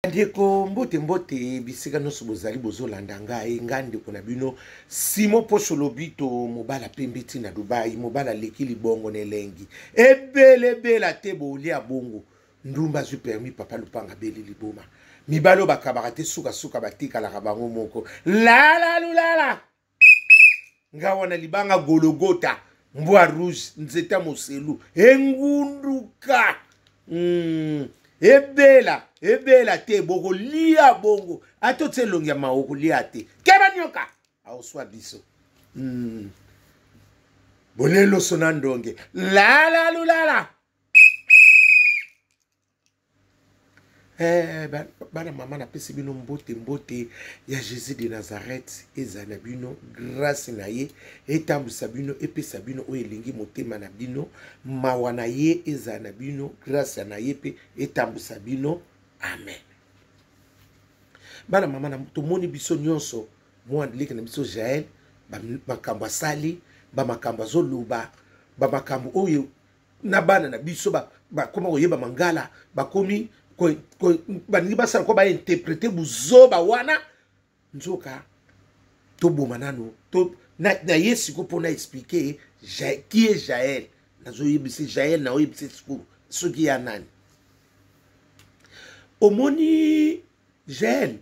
bandeko mbote mbote bisika nyonso bozali bozolanda ngai ngai ndeko na bino simo poso lobito mobala pembe ti na dubai mobala aleki libongo na elengi ebelebela te bolia bongo ndumba azwi permis papa lupanga beli liboma mibali oyo bakabaka te sukasuka batikalaka bango moko lalalulala nga wana libanga gologota mbwa rouge nzeta moselu engunduka mm. ebela ebela te bokolia bongo ata otye elongi ya mawa okolia te keba nyoka aoswa biso mm. boleloso na ndonge lalalulala Eh, bana mama napesi bino mbote mbote ya jésus de nazareth ezala na bino grâce na ye etambwisa bino epesa bino oyo elingi motema na bino mawa na ye ezala na bino grâce na ye mpe etambwisa bino amen bana mama tomoni biso nyonso mwana leki na biso jael makambo asali bamakambo azoloba bamakambo oyo na bana na biso bakoma koyeba mangala bakomi balingi basala ko bainterprete buzoba wana nzoka toboma nano to, na, na ye siko mpo na explike qui est jael nazoyebisa jael naoyebisa sikoyo soki ya nani omoni jael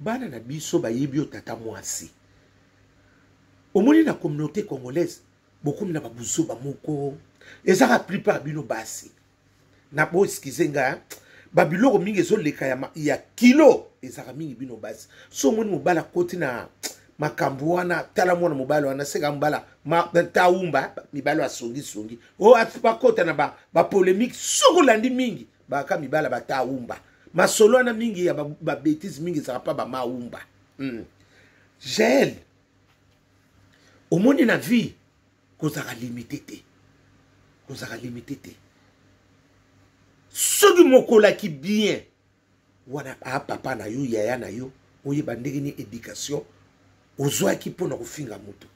bana na biso bayebi yo tata mwasi omoni na communauté congolaise bokomi na babuzoba moko ezaka plupart bino basi na bo eskize nga babiloko mingi ezoleka ya, ya kilo ezaka mingi bino basi so omoni mobali akoti na makambo wana tala mwana mobali wana seka mobala taumba mibali asongisongi o oh, bakota na bapolemike ba soki olandi mingi baka mibala bataumba masolo wana mingi ya babetise mingi ezalaka mpa bamaumba mm. jael omoni na vie kozalaka limite te kozalaka limite te soki mokolaki bien wana a papa na yo yaya na yo oyeba ndenge ni éducation ozwaki mpo na kofinga moto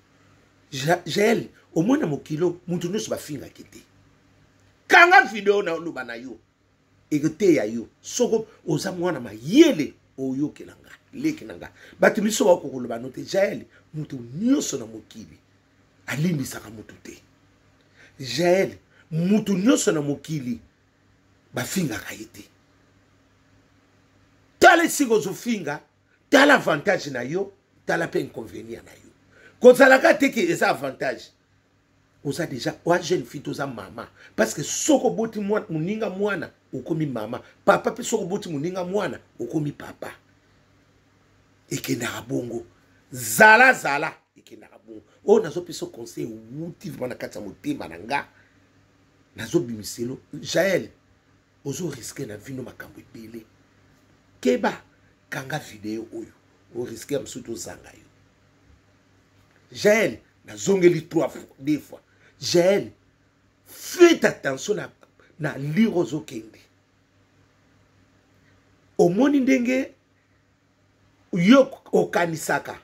jael omona mokilo moto nyonso bafingaki te kanga video na oloba na yo ekoteya yo soko oza mwana mayele oyokela nga leki na nga bato miso baoko koloba no te jaele moto nyonso na mokili alimbisaka moto te jaele moto nyonso na mokili bafingaka ye te tala esika ozofinga tala avantage na yo tala mpe inconvénient na yo kozalaka te ke eza avantage oza deja oa jeune fille toza mama parce que soki oboti moninga mwana okomi mama papa mpe soki oboti moninga mwana okomi papa ekendaka bongo zala zala ekendaka bongo oyo nazopesa conseil ewuti vraimen na kati ya motema na nga nazobimiselo jael ozoriske na vino makambo ebele keba kanga video oyo oriske ya mosusu tozanga yo jael nazongeli trois fois deux fois jael faites attention na, na lire ozokende omoni ndenge yo okanisaka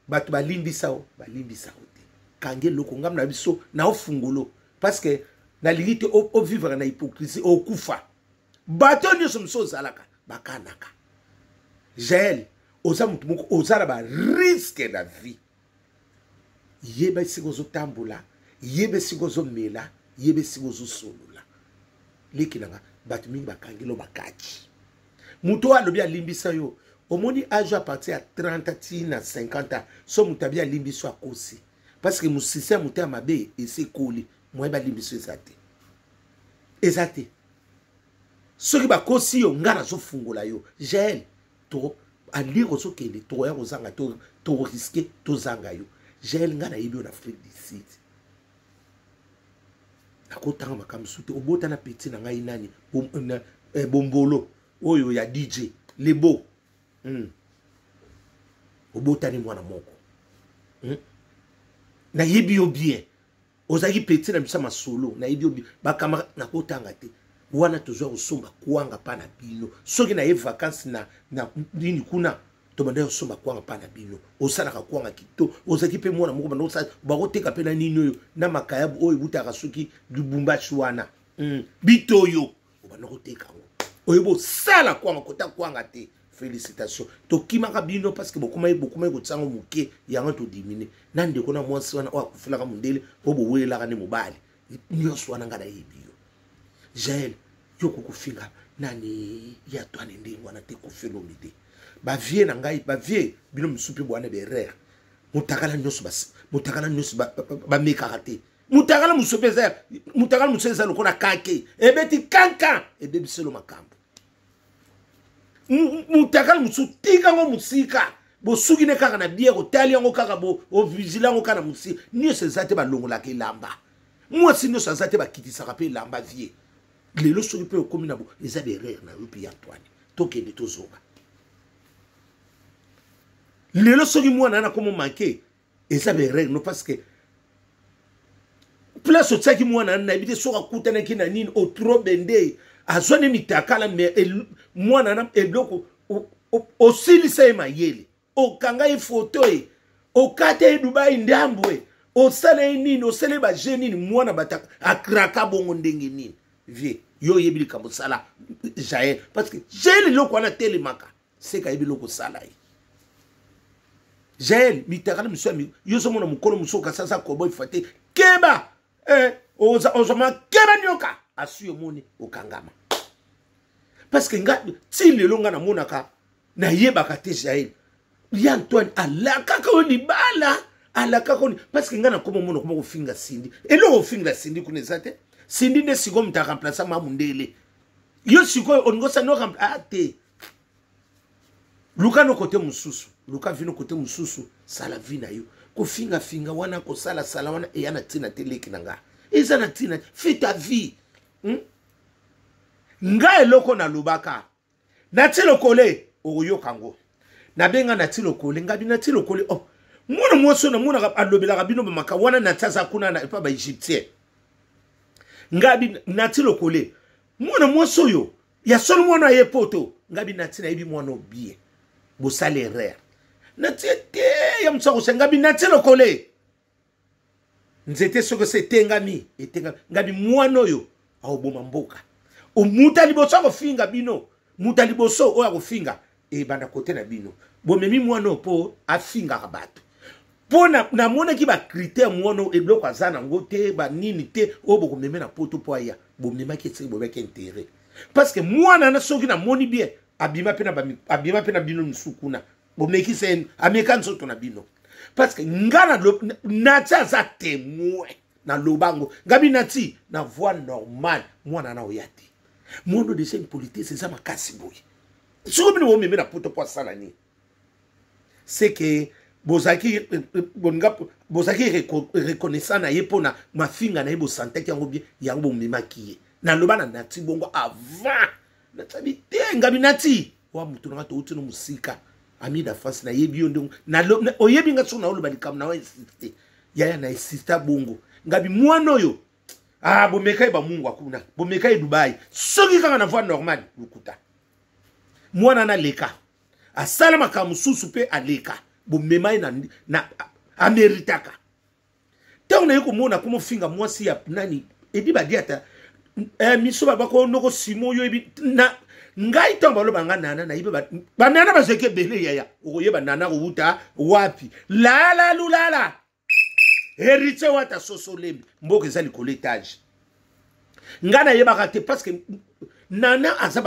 bato balimbisa yo balimbisa yo te kangi eloko ngambo na biso na ofungolo parce que nalingi te ovivre na hypocrisie okufa bato nyonso mosusu ozalaka bakanaka jael oza moto moko oza na bariske na vie yeba esika ozotambola yeba esika ozomela yeba esika ozosolola leki nanga bato mingi bakangi lo bakaki moto oyo alobi alimbisa yo omoni age apartir ya 30 ti na 50 ans so moto abi alimbisi yo akosi parce que mosisi ya moto ya mabe esekoli moye balimbisa eza te eza te soki bakosi yo ngai nazofungola yo jael to alire ozokende tokoya kozanga toriske tozanga yo jael ngai nayebi yo na afrique du sud nakotanga makambo mosusu te obota na peti na ngai nani eh, bombolo oyo ya dj lebo mm. obotani mwana moko mm. nayebi yo bien ozalaki petit na bisa masolo nayebi yo bakamara nakotanga te wana tozwa kosomba kwanga mpa na bino soki naye vakansi na, na nini kuna tobandaki kosomba kwanga mpa na bino osalaka kwanga kito ozalaki mpe mwana moko banda osala bakoteka mpe na nini oyo na makayabu oyo ebutaka soki lubumbashi wana mm. bitoyo obanda koteka yango oyo bosala kwanga kota kwanga te félicitation tokimaka bino parce que bokomaki bokomaki kotia yango moke yango todimine na ndeko na mwasi wana oyo akufelaka mondele mpo bowelelaka nde mobali nyonso wana ngai nayebi yo jael yo kokofinga nani ya twane ndenge wana te kofelomi te bavie na ngai bavie bino mosusu mpe bwana berere motakala nyonso motakala nyonso bamekaka te mutakala mosusu mpe eza mutakala mosusu eza lokola kake ebeti kankan ebebiselo makambo mutakala mosusu tika yango mosika bosuki ne kaka na biere otali yango kaka ovigile yango kaka na mosika nyonso eza te balongolaka elamba mwasi nyonso aza te bakitisaka mpe elamba vie lelo soki mpe okomi na bo eza berere na yo mpe ya antoine tokende tozonga lelo soki mwana wana akomo manke eza ba erreur no parce que place otiaki mwana ani nayebi te soki akutanaki na nini otro bende azwa ne mitakala me mwana na eloko osilisa ye mayele okanga ye foto ye okata ye dubai ndambo ye osala ye nini osala ye baje nini mwana bataka akraka bongo ndenge nini vie yo oyebi likambo osala jael parce que jael eloko wana telemaka seka ayebi eloko osala ye jael mitakala misu yami yo ozomona mokolo mosusu okasi aza kobo efa te keba eh, ozoma keba nioka asi omoni okangama parce que nga ti lelo nga namonaka nayebaka te jael ya antoine alakaka yo libala alakaka yo parce que nga nakoma omona okoma kofinga sindi eloko ofingela sindi kuna eza te sindi nde sikoyo moto aremplace ma mundele yo sikoyo olingi osani ah, te luka no kote mosusu luka vino kote mosusu sala vi na yo kofingafinga wana kosalasala wana eya na ntina te leki na ngai eza na ntina fita vie hmm? ngai eloko nalobaka nati lokole okoyoka yango nabenga nati lokole ngabi nati lokole oh. mwana mwasi oyo namonaka alobelaka bino bamaka wana nati aza kuna na epa baegyptien ngabi nati lokole mwana mwasi oyo ya solo mwana aye poto ngai binati nayebi mwana obie bosala erreur natie te ya mosusu akosa ngai binati lokole nzete soki ose etengami etengami ngai bimwana oyo aoboma mboka moto ya liboso akofinga bino moto ya liboso oyo akofinga ebanda kote na bino bomemi mwana oyo mpo afingaka bato mpo namonaki bakritere mwana oyo eloko aza nango te banini te oyo bokomeme na poto mpo aya bomemaki esiki bomemaki intere parce que mwana na soki namoni bien abima mpe na bino misusu kuna bomekisa ye ameka nzoto na bino parce que nga nati aza temoin naloba yango ngabi nati na voie normale mwana na oya te mondo deja impolitese eza makasi boye soko bino bomeme na poto mpo asala nini seke bozalaki bozalaki reconnaissant na ye mpo na mafinga na ye bosantaki yango bie yango bomemaki ye naloba na nati bongo avant natsabi te ngabi nati wa motu nanga touti no mosika ami da france nayebi yo ndenge oyebi nga soki naoloba likambo na wa insiste yaya na insista bongo ngabi mwana oyo ah bomeka ye bamungwa kuna bomeka ye dubai soki kaka na voie normale lokuta mwana na leka asala makambo mosusu mpe aleka bomema ye na, na ameritaka ntango naye komona komofinga mwasi ya nani edi badiata eh, miso babako noko simo yo ebi na ngai ntango baloba nga nana nayebi banana bazalaki ebele yaya okoyeba nana kowuta wapi lalalulala heritier wata soso lembe mboka eza likolo etage ngai nayebaka te parce que nana aza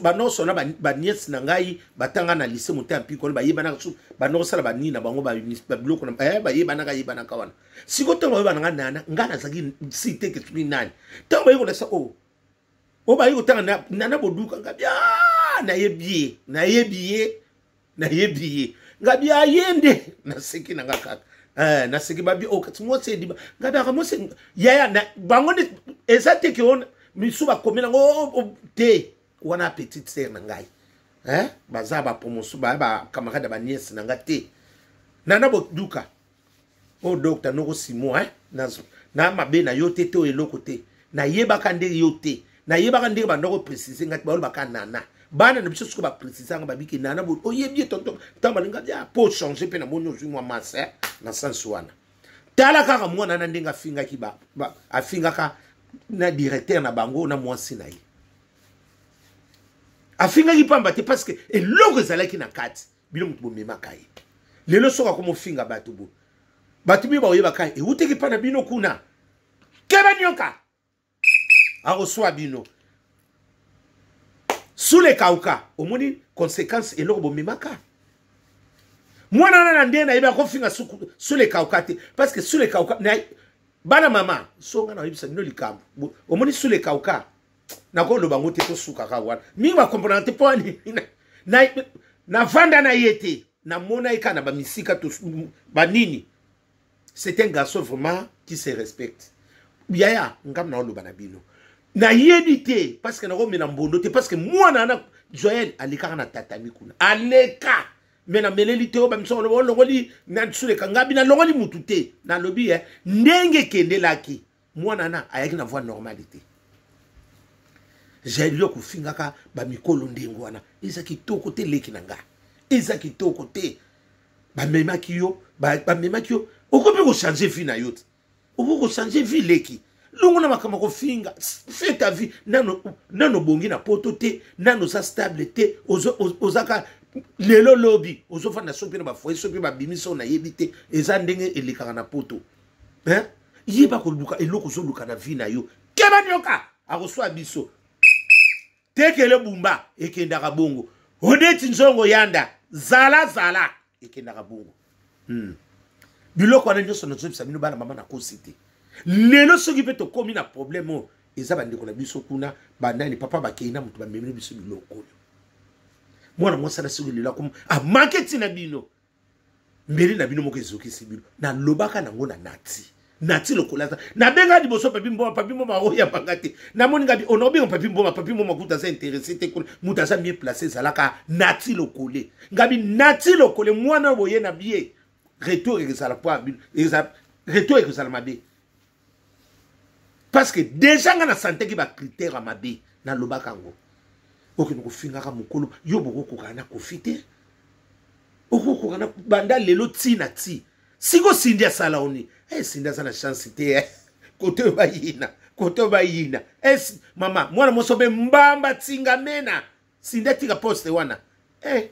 banonso na baniese na ngai batanga na lise moto ya mpikolo bayebanaka su banokosala banini na bango babiloko eh, bayebanaka yebanaka wana sikoyo ntango bayebana ngai nana ngai nazalaki siteke soki nani ntango baye kolasa o oh, oyo oh, baye kotanga nana boduka ngai bia nayebi ye nayebi ye nayebi ye ngabi aye nde naseki na nga kaka eh, naseki babi okati oh, mwasi ediba ngabi aka mwasi yaya na, bango nde eza te ke ona misu bakomi nango oh, oh, te wana petite sere na ngai eh? baza bapromotion baya bacamarade ya baniese na nga te nana boduka o oh, docteur noko simo hein na na mabe na yo te to eloko te na yebaka nde yo te na yebaka nde banda ko préciser ngati ba baka nana bana na biso siko ba préciser nga babiki nana bo o oh, yebi tonton tant balinga ya po changer pe na moni ozui mwa masse hein, na sens wana tala kaka mwana na ndenge afingaki ba, ba afingaka na directeur na bango na mwasi na ye afingaki pamba te parce que eloko ezalaki na kati bino moto bomemaka ye lelo soki akomofinga bato bo bato mio bakoyebaka ye ewuteki mpa na bino kuna keba nyoka akoswa bino sule kauka omoni conséquence eloko bomemaka mwana wana na ndenge nayebi akofinga sule kauka te parce que sule kauka bana mama songa na oyebisa bino likambo omoni sule kauka nakoloba yango te tosukaka wana mingi bakomponaka te mpo navanda na ye te namona ye kaka na bamisika banini c'est un garçon vraiment qui se respecte yaya ngambo naoloba na bino nayebi te parce que nakomela mbondo te parce que mwana wana joel alekaka na tatami kuna aleka me nameleli te oyo bamiso olongoli nasuleka ngabi nalongoli mutu te nalobi e ndenge ekendelaki mwana na ayaki na voie normale te jailio kofingaka bamikolo ndenge wana eza kitoko te leki na nga eza kitoko te bamemaki yo bamemaki yo okoki mpe kochange vie na yo te okoki kochange vie leki longo na makambo kofinga fait ta vie nano nano bongi na poto te nano oza stable te ozaka lelo lobi ozofanda so mpe na bafoye so mpe babimi so nayebi te eza ndenge elekaka na poto hein? yeba koluka eloko ozoluka na vie na yo keba nioka akoswa biso tekele bumba ekendaka bongo odeti nzongo yanda zala zala ekendaka bongo hmm. biloko wana nyonso nazobisa bino bana mama nakosi te lelo soki mpe tokómi na problème oyo eza bandeko na biso kuna banani papa bakei na moto bamemeli biso biloko oyo mwana mwasi na soki lelo amanke ntina bino mbeli na bino moko ezokisi bino nalobaka nango na nati nati lokola aza nabenga liboso papi mboma papi mboma oyambanga te namoni ngabi ona obenga papi mboma papi mboma kuta aza interesse te kuna moto aza mie place ezalaka nati lokole ngabi nati lokole mwana oyo boye na bie retour ekozala mpo ya bino retour ekozala mabe parce que deja nga na santeki ba critère ya mabe nalobaka yango okende kofingaka mokolo yo bokokokana na kofi te okokokana banda lelo ti na ti siko sindi asala oni hey, eh, sindi aza na chance te eh. kote oyo bayina kote oyo bayina hey, eh, mama mwana moso mpe mbamba tingamena sida tika poste wana eh.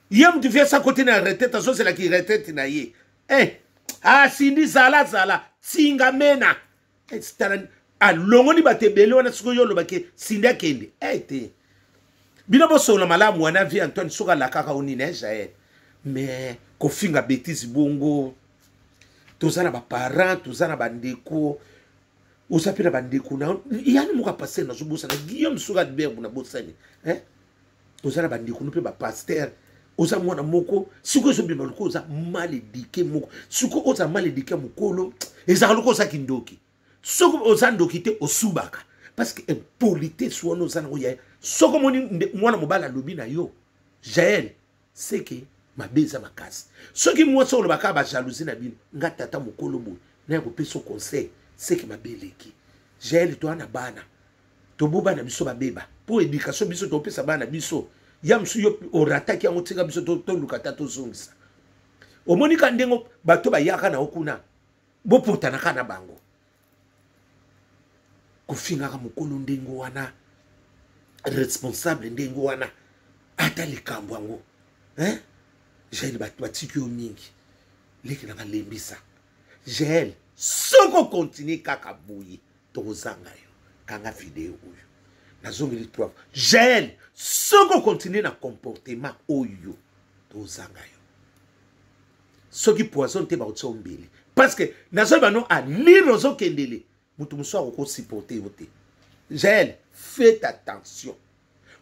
ye mutu vie sa kote na retraite azozela ki retraite na ye eh. ah, sindi zala zala tinga mena eh, tala alongoli bato ebele wana soki oyo olobaki sindi akende eh, te bino bosolola malamu wana vie antoine soki alakaka o nini jael eh, mais kofinga betise bongo toza na baparent toza na bandeko oza mpe na bandeko na yani moko apaster nazobosana guillaume soki albert kuna bosani eh? oza na bandeko no mpe bapaster oza mwana moko siko ezobima lokola oza mal edike moko siko oza mal edike ya mokolo ezalaka lokola oza kindoki soki oza ndoki te osubaka parce que impolitesse wana oza nango yaya soki omoni mwana mobali alobi na yo jael seke mabe eza makasi soki mwasi oloba kaka bajalousie na bino nga tata mokolo boye naye kopesa conseil seke mabe eleki jael toa na bana tobo bana biso babeba mpo edikatio biso topesa bana biso ya mosusu yo orataki yango tika biso toluka ta tozongisa omoni ka ndenge bato bayaka na yo kuna bopotanaka na bango kofingaka mokolo ndenge wana responsable ndenge wana ata likambo yango hein? jael bato batiki yo mingi leki na balembisa jael soki okontinue kaka boye tokozanga yo kanga video oyo nazongeli trois fois jael soki okontinue na comportement oyo tozanga yo soki poison te bakotia ombele parce que nazoyi bano a nini ozokendele moto mosusu akokosupporte yo te jael fait attention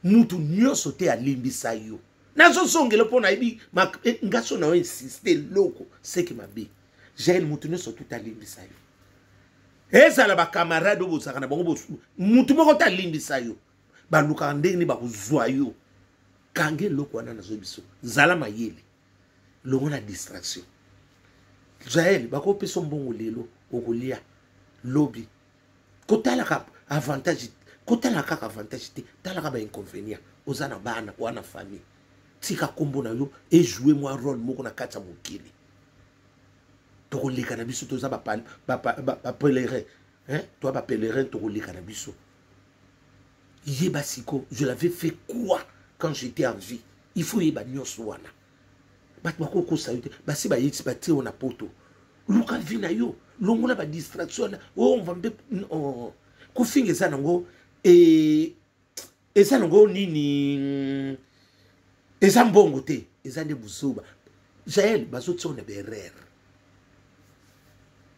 moto nyonso te alimbisa yo nazozongela mpo nayebi eh, ngaso na yo insiste eloko seki mabe jael moto nyonso tu talimbisa yo ezala bakamarade oyo bozalaka na bango motu moko te alimbisa yo balukaka ndenge nini bakozwa yo kanga eloko wana nazoyebiso zala mayele longola distraction jael bakopesa mbongo lelo okolia lobi kotalaka avantage kotalaka kaka avantage te talaka bainconvénient oza na bana oa na famille tika nkombo na yo ejoue mwa role moko na kati ya mokili tokoleka na biso toza bapelerin toa bapelerin tokoleka na biso yeba siko je l'avais fait quoi quand j'étais en vie il faut oyeba nyonso wana bato bakokosa yo te basi bayeti batie yo na poto luka vi na yo longola badistraction wana omva oh, mpe oh, kofinga eza nango e, eza nango nini eza mbongo te eza nde buzoba jael bazotia yo na berere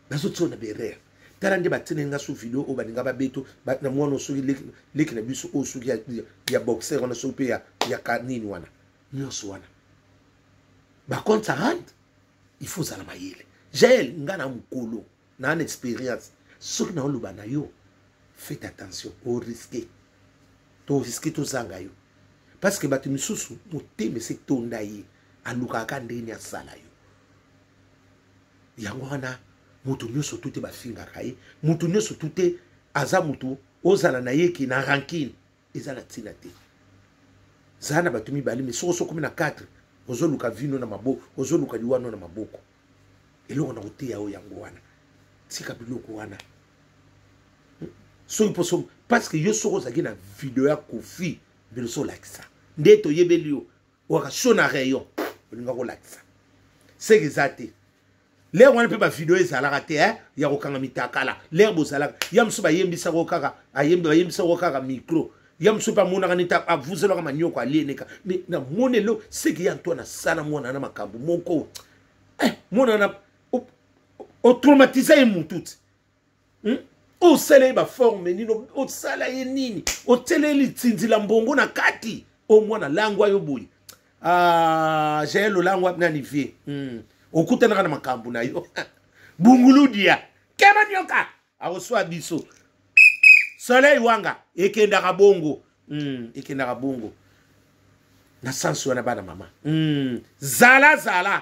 nazotiwa na berere tala nde batindeli nga so video oyo balinga babeto na mwana soki leki na biso oyo soki ya boxer wana soki mpe ya kanini wana nyonso wana bacompte ça rentre il faut ozala mayele jael nga na mokolo na na expérience soki naoloba na yo faites attention oriske toriske tozanga yo parce que bato misusu motema ese etonda ye alukaka kaka ndenge nini asala yo yango wana moto nyonso tu te bafingaka ye moto nyonso tu te aza moto ozala na ye ke na rankine eza na ntina te zala na bato mibale me soki osokomi na 4 ozoluka vino na maboko ozoluka liwano na maboko eloko na koteya yo yango wana tika biloko wana hmm? soki poso parce que yo soki ozalaki na video ya kofi mbele so olakisa nde toyebeli yo waka so na rayon olinga kolakisa seke eza te lere wana mpe bavideo ezalaka te eh? ya kokanga mitakala lere bozalaka ya mosusu bayembisako kaka bayembisako kaka micro ya mosusu mpe amonaka neti avuzelaka manioko alieneka me namoni elo seke ya nto nasala mwana na makambo moko eh, mwana na otraumatisa ye mutu ti hmm? osala ye baforme nini osala ye nini otyela ye litindi la mbongo na kati o mwana langwa yo boye ah, jael olangwa nani vie hmm. okutanaka na makambo na yo bunguludia kema nyoka akoswa biso soleil wanga ekendaka bongo mm, ekendaka bongo na sansi wana bana mama mm, zala zala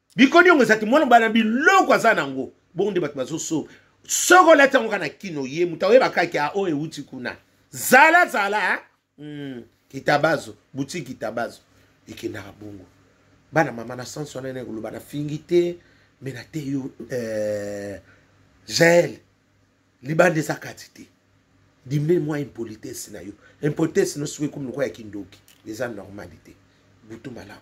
bikoni yango ezati mwana mobali na biloko aza nango bongo nde bato bazoso soki olati yango kaka na kino ye moto aoyeba kaki a oyo euti kuna zala zala mm, kitabazo butiki kitabazo ekendaka bongo bana mama na sansi wana ena ekoloba nafingi te me na te yo eh, jael libanda eza kati te dimine mwa impolitesse na yo impolitesse no soki ekomi lokola ya kindoki eza normalité butu malamu